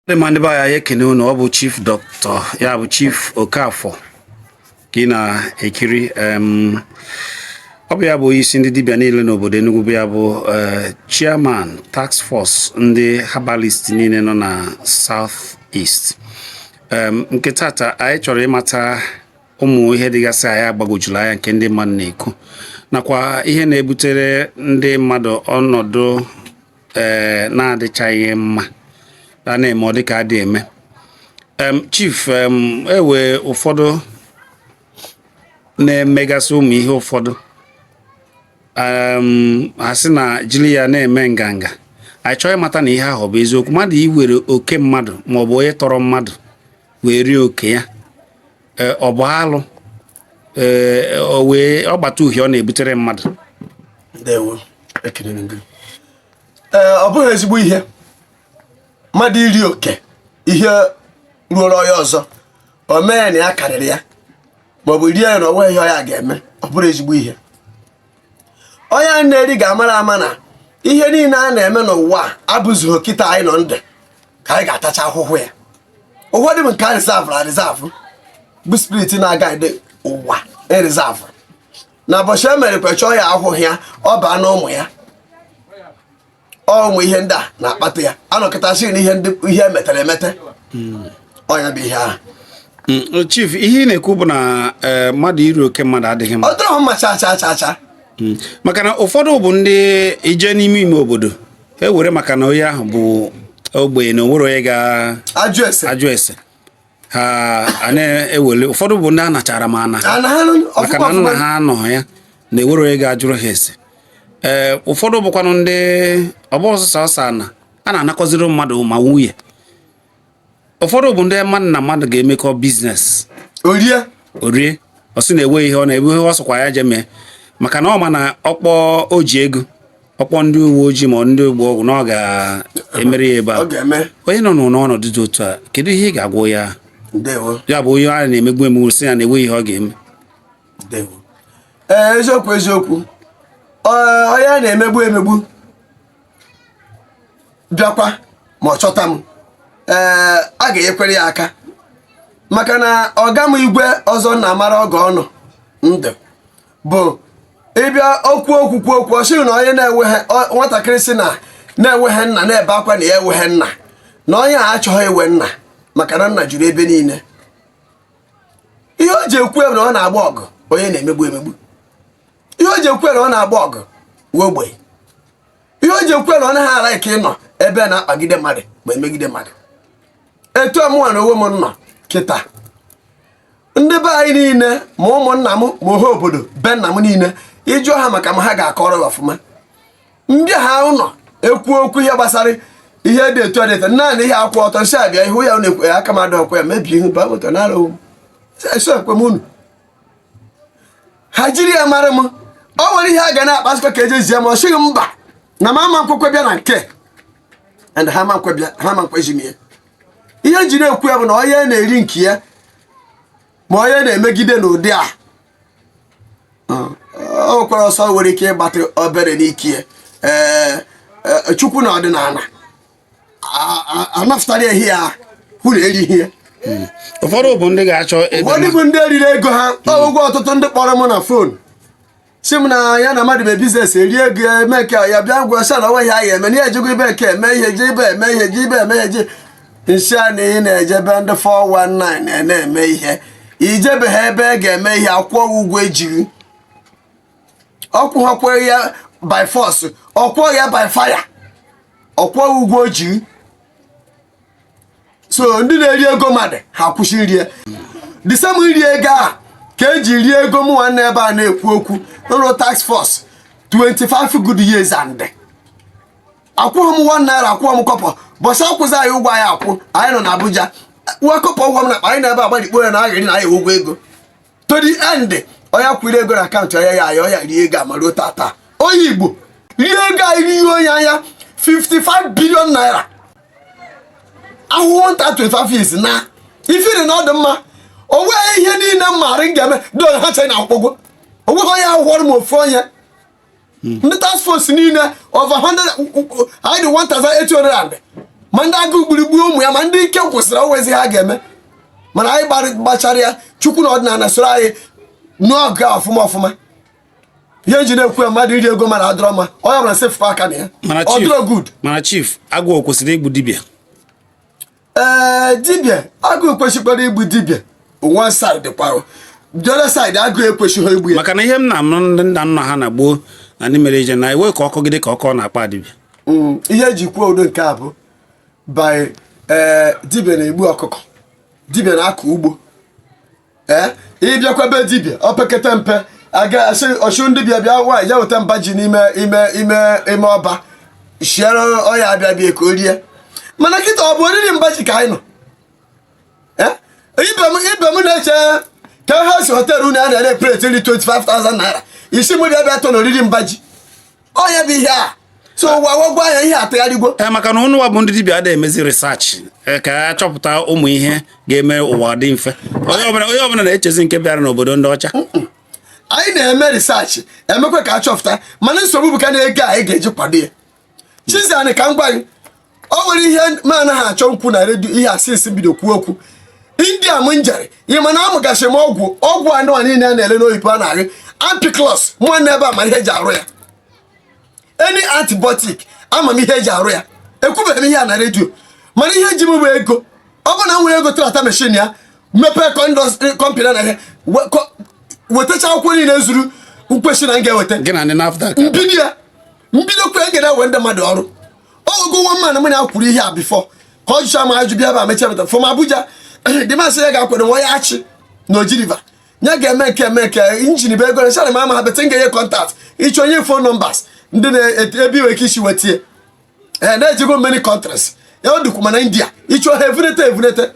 ndị ma ndị be anyị ekene m unu ọ bụ chief dọkịta ya bụ chief Okafor ka ị na-ekiri ọ bụ ya bụ onye isi ndị dibịa niile n'obodo Enugu ọ bụ ya bụ eh, chairman task force ndị herbalist niile nọ na south east nke tata anyị chọrọ ịmata ụmụ ihe dịgasị anyị agbagojulu anya nke ndị mmadụ na-ekwu nakwa ihe na-ebutere ndị mmadụ ọnọdụ ee na-adịchaghị mma a na-eme ọ dịka adị eme chief e nwee ụfọdụ na-emegasị ụmụ ihe ụfọdụ ha sị na e jili ya na-eme nganga anyị chọrọ ịmata na ihe ahụ bụ eziokwu mmadụ iwere oke mmadụ maọbụ onye tọrọ mmadụ wee rie oke ya e, ọ bụ alụ e, o nwee ọgbatauhie ọ na-ebutere mmadụ ndewo ekele na gị ee ọ bụghị ezigbo ihe mmadụ iri oke ihe ruoro onye ọzọ o mee na ya karịrị ya maọbụ rie ya na o nwee ihe ya ga-eme ọ bụrọ ezigbo ihe onye a na-eri ga-amara ama na ihe niile a na-eme n'ụwa abụzirọ kịta anyị nọ ndụ ka anyị ga-atacha ahụhụ ya ụfọdụ bụ nke a reserve na reserve bụ spirit na-aguide ụwa e reserve na ụbọchị e mere kwachaa ya ahụhụ ya ọ baa na ụmụ ya ụmụ ihe ndị a na-akpata ya a nọkata sị na ihe e metere emete ọ nya bụ ihe ahụ Mm, chief ihe ị na-ekwu bụ na eh, mmadụ iri oke mmadụ adịghị mma ọ dịrọ mma cha cha cha cha Mm. maka na ụfọdụ bụ ndị ị jee n'ime ime obodo e were maka na onye ahụ bụ ogbenye na o nwerọ onye ga-ajụ ese ajụ ese ha a na-ewele ụfọdụ bụ ndị a nachara ma ana maka na nna ha anọ ya na enwerọ onye ga-ajụrụ ha ese ee ụfọdụ bụkwanụ ndị ọ bụ ọsọsọ ọsọ a na a na-anakọziri mmadụ ma nwunye ụfọdụ bụ ndị mmadụ na mmadụ ga-emekọ business o rie o rie ọ sị na e nwee ihe ọ na e nwee ihe ọ sọkwa ya je mee maka na ọ ma na ọ kpọ o ji ego ọ kpọ ndị uwe ojii ma ndị ọgbọ ọgwụ na ọ ga-emere ya ebe a onye nọ n'ọnọdụ dị otu a kedu ihe ị ga-agwa ya ya bụ onye a na-emegbu emegbu sị ya na enweghị ihe ọ ga-eme ee eziokwu eziokwu onye a na-emegbu emegbu bịakwa ma ọ chọta m ee a ga-enyekwere ya aka maka na ọga m igwe ọzọ na-amara oge ọ nọ ndụ bụ ịbịa okwu okwu kwuo okwu ọ na onye na-enweghị nwatakịrị sị na ya enweghị nna na-ebe akwa na ya enweghị nna na onye a achọghị inwe nna maka na nna juru ebe niile ihe o ji ekwu na ọ na-agba ọgụ onye a na-emegbu emegbu ihe o ji ekwu na ọ na-agba ọgụ nwa ogbenye ihe o ji ekwu na ọ naghị ara ike ịnọ ebe a na-akpagide mmadụ ma emegide mmadụ etu mụnwa na onwe m nọ kịta ndị be anyị niile ma ụmụnna m ma ọha obodo be nna m niile ị jụọ ha maka m ha ga-akọrọ ya ọfụma m bịa ha nọ ekwu okwu ihe gbasara ihe dị etu a dịta naanị ihe akwụ ọtọ nsị abịa ihu ya na-ekwe ya aka m adị ọkwa ya mebie ihu baa moto nara onwe m ekwe m unu ha jiri ya mara m ọ nwere ihe a ga na-akpasịkọ ka eje zie m ọ sịghị mba na m ama m kwekwa bịa na nke and ha ma nkwebịa ha ma nkwezi m ya ihe m ji na-ekwu ya bụ na onye a na-eri nke ya ma onye a na-emegide n'ụdị a o nwekwara ọsọ nwere ike ịgbatị obere n'ike ya ee e, Chukwu na ọdịnala a- a- anapụtara ehi ya hụ na erighị ya ụfọdụ bụ ndị ga-achọ ịdị ụfọdụ mma. bụ ndị e riri ego ha ụgwọ ọtụtụ ndị kpọrọ m na fon sị m na ya na mmadụ mee biznes e rie ego ya eme nke ya bịa gwa sha na o nwe ihe a ga-eme na ya ejego ebe nke eme ihe je ebe eme ihe je ebe eme ihe je m sị ya na ị na-eje be ndị 419 na-eme ihe i jebeghị ebe a ga-eme ihe a kwụọ gị ụgwọ e ji gị ọ kwụọkwa ya by force ọ kwụọ ya by fire ọ kwụọ gị ụgwọ o ji gị so ndị na-eri ego mmadụ ha kwụsị iri ya the same iri ego a ka e ji rie ego m nwanne ebe a na-ekwu okwu m rụrụ task force 25 good years and akwụghị m one naira akwụghị m kọbọ ụbọsị akwụzi anyị ụgwọ anyị akwụ anyị nọ na Abuja nwa kọpọ ụgwọ m na akpa anyị na ebe agbalikpo ya na aghịrị na anyị ụgwọ ego to the end onye a kwụrụ ego na akaụntụ ya ya ya ọ ya rie ego a ma ruo taata onye Igbo rie ego anyị rie onye anya 55 billion naira ahụhụ m ta 25 years na ifiri na ọ dị mma o nweghị ihe niile m maara m ga-eme don ha chee na akwụkwọ o nweghị onye ahụhọrọ m ofu onye hmm. ndị task force niile over 100 anyị dị 1800 ma ndị agụụ gburu egbu ụmụ ya ma ndị ike gwụsịrị o nwezi ihe ha ga-eme mana anyị gbachara ya Chukwu na ọdịnala soro anyị n'ọgụ ọfụma ọfụma ihe m ji na-ekwu ya mmadụ iri ego mmadụ adịrọ mma onye ọbụla sefụkwa aka na ya ọ dịrọ good mana chief agụụ kwesịrị igbu dibịa ee dibịa agụụ kwesịkwara igbu dibịa one side kwara the other side agụụ ekwesịghị igbu ya maka na ihe m na-anụ ndị nna nna ha na gboo na ndị mere ije na iwe ka ọkụ gị dị ka ọkụ ọ na-akpa dibịa Mm, ihe e ji kwuo ụdị nke a bụ by ee dibịa na-egbu ọkụkọ dibịa na-akọ ugbo ee ịbịakwa be dibịa opekete mpe a ga-asị ọchụ ndị bịa bịa nwaanyị ya weta mba ji n'ime ime ime ime ọba shiere onye abịa bịa ka o rie mana kịta ọ bụ oriri mba ji ka anyị nọ Eh? ebe m ebe m na-eche ka ha si họteelụ unu a na-ere pleti nri 25,000 naira ị sị m bịa bịa tọ na oriri mba ji ọ ya bụ ihe a so ụwa gwagwa anya ihe atụgharịgwo ee eh, maka na unuwa bụ ndị dibịa adịghị emezi research eh, ka a chọpụta ụmụ ihe ga-eme ụwa dị mfe onye ọbụla na-echezi nke bịara n'obodo ndị ọcha anyị na-eme research emekwa ka a chọpụta mana nsogbu bụkanụ ego anyị ga-eji kwado ya chizani ka m gwa gị o nwere ihe m anaghị achọ ikwu na redio ihe asịsị bido kwuo okwu india m njere ị ma na amụgasị m ọgwụ ọgwụ anụwa niile a na-ele n'oyibo a na-arị ampiclox nwanne ebe ama m ihe e ji arụ ya any antibiotic ama m ihe e ji arụ ya ekwubeghị m ihe a na redio mana ihe ji m bụ ego ọ bụ na m nwere ego trata meshin ya mepee kọmpani na ihe wetacha akwụkwọ niile zuru nkwesị na m ga-eweta m bido ya m bidokwe e ga-ewe ndị mmadụ ọrụ ogo nwa mmanụ mụ na ya kwuru ihe a before ka ọ jụcha ma ajụ bịa ebe a mechaa meta fọm Abuja dị masị ya ga-akwado nwa ya achị na Oji River nye ga-eme nke eme nke injin bụ ego na chara ma ama ha bete m ga-enye contact ị chọọ e nye phone numbers ndị na-ebe i nwe ike isi wetie ee na-ejego many countries ya ọ dịkwu mana india ị chọọ ha evunete evunete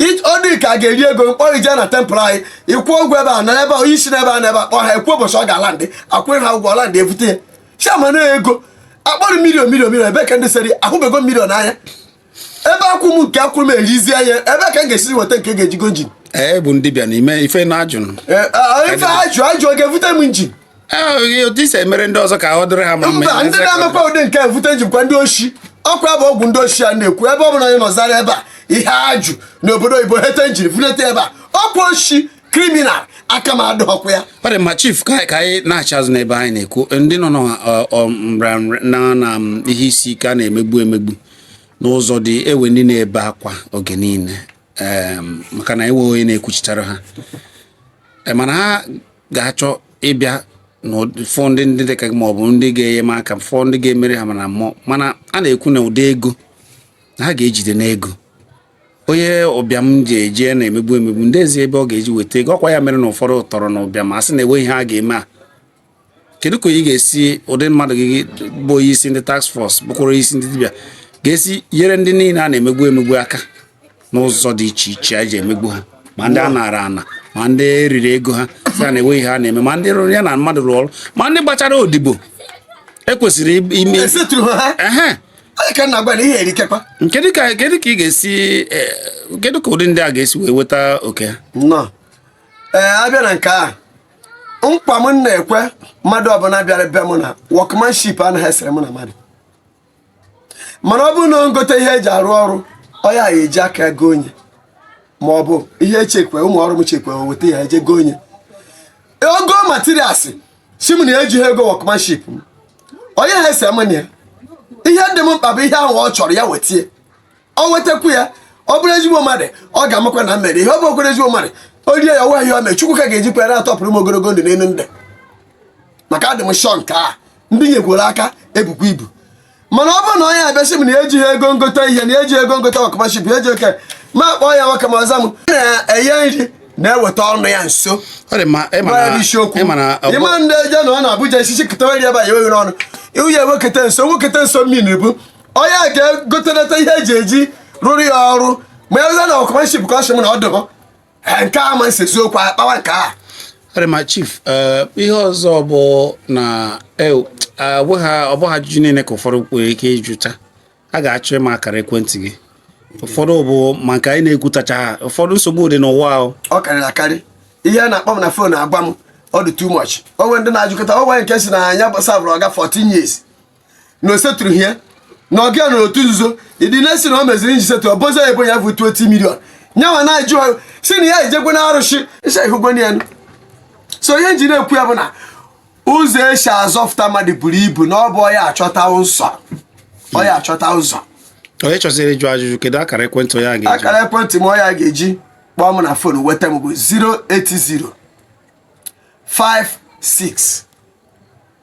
ọ dịka ga-eri ego mkpọrọ ije na tempụl anyị ị kwụọ ụgwọ ebe a na ebe onye isi n'ebe a na ebe akpọ ha ekwu ụbọchị ọ ga-alandị a kwụọ ha ụgwọ ọ landị e bute ya chama na ego a kpọrọ million million million ebe ka ndị seri ahụbego million anya ebe a kwụọ m nke a kwụrụ m erizie ya ebe ka m ga-esizi weta nke ga-eji go injin ee bụ dibịa n'ime ife na ajụnụ ife ajụ ajụ ọ ga-evute m injin e si emere ndị ọzọ ka ọ dịrị ha mma mba ndị na-emekwa ụdị nke evute injin kwa ndị oshi ọkwa bụ okwu ndị oshi a na-ekwu ebe ọ bụla anyị nọzara ebe a ihe ajụ n'obodo oyibo hete injin vunete ebe a ọkwa oshi criminal aka m adịkwa ya ọ dị mma chief ka anyị naghachi azụ n'ebe anyị na-ekwu ndị nọ na um, ihe isi ike a na-emegbu emegbu n'ụzọ dị ewe ndị na-ebe akwa oge niile maka na enweghị onye na-ekwuchitara ha mana ha ga-achọ ịbịa na-afụ ndị ndị dịka gị maọbụ ndị ga-enye m aka fụ ndị ga-emere ha na mmụọ mana a na-ekwu na ụdị ego na ha ga-ejide n'ego onye ụbịam ji eje na-emegbu emegbu ndị ezi ebe ọ ga-eji weta ego ọkwa ya mere na ụfọdụ tọrọ na ụbịam a sị na enweghị ihe a ga-eme a kedu ka ị ga-esi ụdị mmadụ gị bụ onye isi ndị task force bụkwara isi ndị dibịa ga-esi nyere ndị niile a na-emegbu emegbu aka n'ụzọ dị iche iche a ji emegbu ha ma ndị a nara ana ma ndị riri ego ha sị na enweghị ha na-eme ma ndị rụrụ ya na mmadụ rụrụ ọrụ ma ndị gbachara odibo ekwesịrị ime kedu ka ị ga-esi e, kedu ka ụdị ndị a ga-esi wee weta oke ha ee abịa na nke a nkwa m na-ekwe mmadụ ọbụla bịara be m na workmanship anaghị esere m na mmadụ mana ọ bụrụ na ọ ngote ihe eji arụ ọrụ ọ ya eji aka egonye ma ọ bụ ihe echekwa ụmụ ọrụ m chekwa weta ya eje gonye ọ go materials sị m na ya ejighị ego workmanship onye ha ese mụ na ya ihe dị m mkpa bụ ihe ahụ ọ chọrọ ya wetie ọ wetakwu ya ọ bụrụ ezigbo mmadụ ọ ga-amakwa na m mere ihe ọ bụrụ kwere ezigbo mmadụ o rie ya ọwa ihe o mee chukwu ka ga-eji kwere atọpụrụ m ogologo ndụ n'elu ndụ maka adị m shọ nke a ndị nyekwuru aka ebukwa ibu mana ọ bụrụ na onye abịa sị m na ejighị ego ngota ihe na ejighị ego ngota workmanship eji oke ma kpọọ ya nwoke ma ọ za m na-enye nri na-eweta ọnụ ya nso isiokwu ịma ndị eje na ọ na Abuja isi chikọtawa ri ebe a ya eweghị n'ọnụ iwu ya ewekọta nso nwekọta nso mmiri bụ onye a ga-egotenata ihe eji eji rụrụ ya ọrụ ma ya rụza na workmanship ka ọ sị m na ọ dịbọ Eh, nke a ma nsezi okwu a kpawa nke a ọ dị mma chief eh, ihe ọzọ bụ na eh, ọ bụghị ọ bụghị ajụjụ niile ka ụfọdụ nwere ike ịjụcha a ga-achọ ịma akara ekwentị gị ụfọdụ bụ ma nke anyị na-ekwutacha ha ụfọdụ nsogbu dị n'ụwa ahụ ọ karịrị akarị ihe a na-akpọ m na fon agwa m ọ dị too much o nwee ndị na-ajụkọta o nwee nke sị na ya savụrụ ọga 14 years na o setụrụ ihe na ọga ya nọ otu nzuzo ịdị na-esi na o meziri nji setụ ọbụzọ ebo ya bụ 20 million nya nwa na-ajụ ha sị na ya ejekwe na arụsị ise ihugwena ya so ihe m ji na-ekwu ya bụ na ụzọ esi azọfụta mmadụ buru ibu na ọ bụ ọ ya achọta ụzọ ọ ya achọta ụzọ onye chọziri ịjụ ajụjụ kedu akara ekwentị onye a ga-eji akara ekwentị m ọya ga-eji kpọọ m na fon weta m bụ 080 56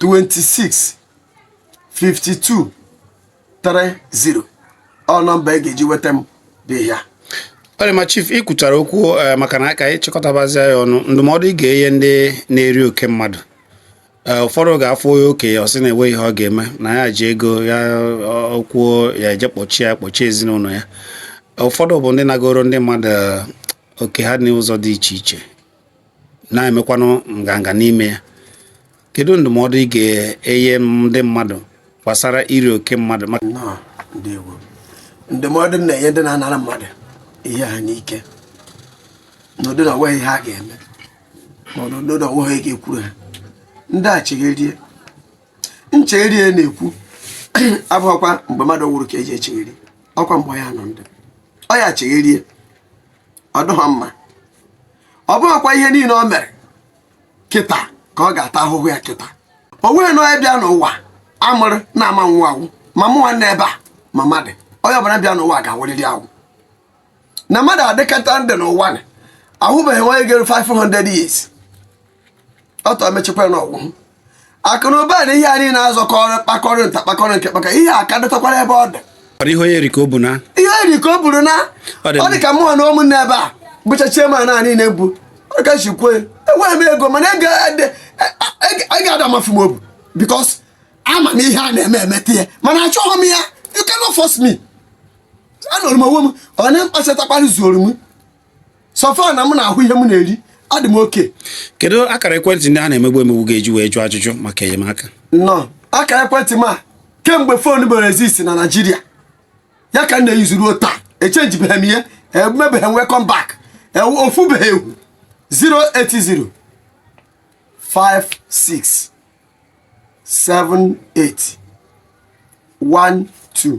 26 52 30 ọ nọmba ị ga-eji weta m dị ya ọ dị mma chief ị kwuchara okwu eh, maka na aka ịchịkọtabazi ya ọnụ ndụmọdụ ị ga-enye ndị na-eri oke mmadụ eh, ụfọdụ ga-afụ onye oke ya ọ sị na enweghị ihe ọ ga-eme na ya ji ego ya kwuo ya eje kpọchie ya kpọchie ezinụlọ ya ụfọdụ bụ ndị nagoro ndị mmadụ eh, oke ha n'ụzọ dị iche iche na-emekwanụ nganga n'ime ya kedu ndụmọdụ ị ga-enye ndị mmadụ gbasara iri oke mmadụ maka Nnọọ, ndewo. ndụmọdụ m na-enye ndị na-anara mmadụ ihe ha n'ike n'ụdị na onweghị ihe a ga-eme ma ọ n'ụdị na onweghị ihe ga-ekwuru ha ndị a chegherie nchegherie na-ekwu abụghịkwa mgbe mmadụ nwụrụ ka eji echegheri ọkwa mgbe ya nọ ndụ ọ ya chegherie ọ dịghị mma ọ bụghịkwa ihe niile o mere kịta ka ọ ga-ata ahụhụ ya kịta o nweghị na onye bịa n'ụwa amụrụ na-ama nwụ anwụ ma mụnwa nọ ebe a ma mmadụ onye ọbụla bịa n'ụwa ga-anwụrịrị anwụ na mmadụ adịkata ndụ n'ụwa na ahụbeghị onye geru 500 years ọtọ emechekwa na ọgwụ akụ na ụba na ihe anyị na-azọkọrọ kpakọrọ nta kpakọrọ nke kpaka ihe a ka dịtakwara ebe ọ dị ihe onye riri ka o buru naa ọ dị ka mụ onwe m nọ ebe a bụcha chiema na anyị na-ebu ọ ka si kwuo enweghị m ego mana ego ada amafu m obu because ama m ihe a na-eme emeta ya mana achọghị m ya you cannot force me anọrọ m onwe m ọ nke m kpachatakwara zuoro m so far na m na-ahụ ihe m na-eri adị m okay kedu akara ekwentị ndị a na-emegbu emegbu ga-eji wee jụọ ajụjụ maka enyemaka nnọọ akara ekwentị m a kemgbe phone mere exist na Nigeria ya ka m na-eyuzu ruo taa echenjibeghị m ihe emebeghị m welcome back e, o fubeghị efu 080 56 78 12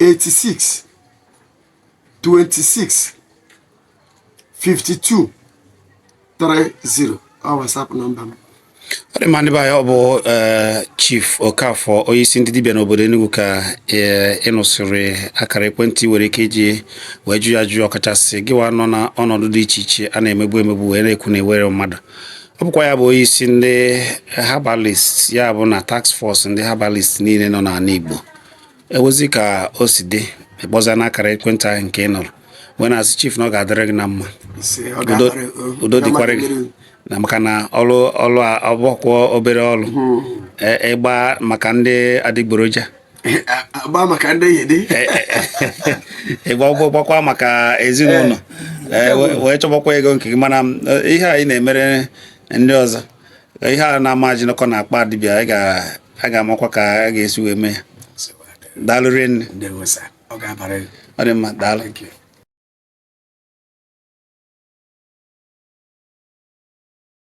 86 26 52 30 ọ WhatsApp nọmba m ọ dị mma ndị be anyị ọ bụ eh, Chief Okafor onye isi ndị dibịa n'obodo Enugu ka eh, ị nụsịrị akara ekwentị i nwere ike iji wee jụọ ya ajụjụ ọkachasị gịwa nọ na ọnọdụ dị iche iche a na-emegbu emegbu wee na-ekwu na i nwerọ mmadụ ọ bụkwa ya bụ onye isi ndị herbalist ya bụ na task force ndị herbalist niile nọ n'ala Igbo e nwezi ka o si dị ị kpọzia n'akara ekwentị ahụ nke ị nụrụ wee na-asị chief na ọ ga-adịrị gị na mma Ise, ọ Udo- ga-amarị- o- udo ọ dịkwara ga-amarị gị mmiri. na maka na ọlụ ọlụ a abụkwọ obere ọlụ E- ịgba maka ndị adịgboroja A- agba maka ndị enyi dị ịgba ụgwọ gbakwa maka ezinụlọ Ee, we- wee chọbakwa ego nke gị mana m, eh, ihe anyị na-emere ndị ọzọ ihe a na-ama ajinụkọ na akpa dibịa anyị ga- a ga-amakwa ka a ga-esi wee mee ya daalụ rinne ndewo sir ọ ga-abara gị ọ dị mma daalụ Thank you.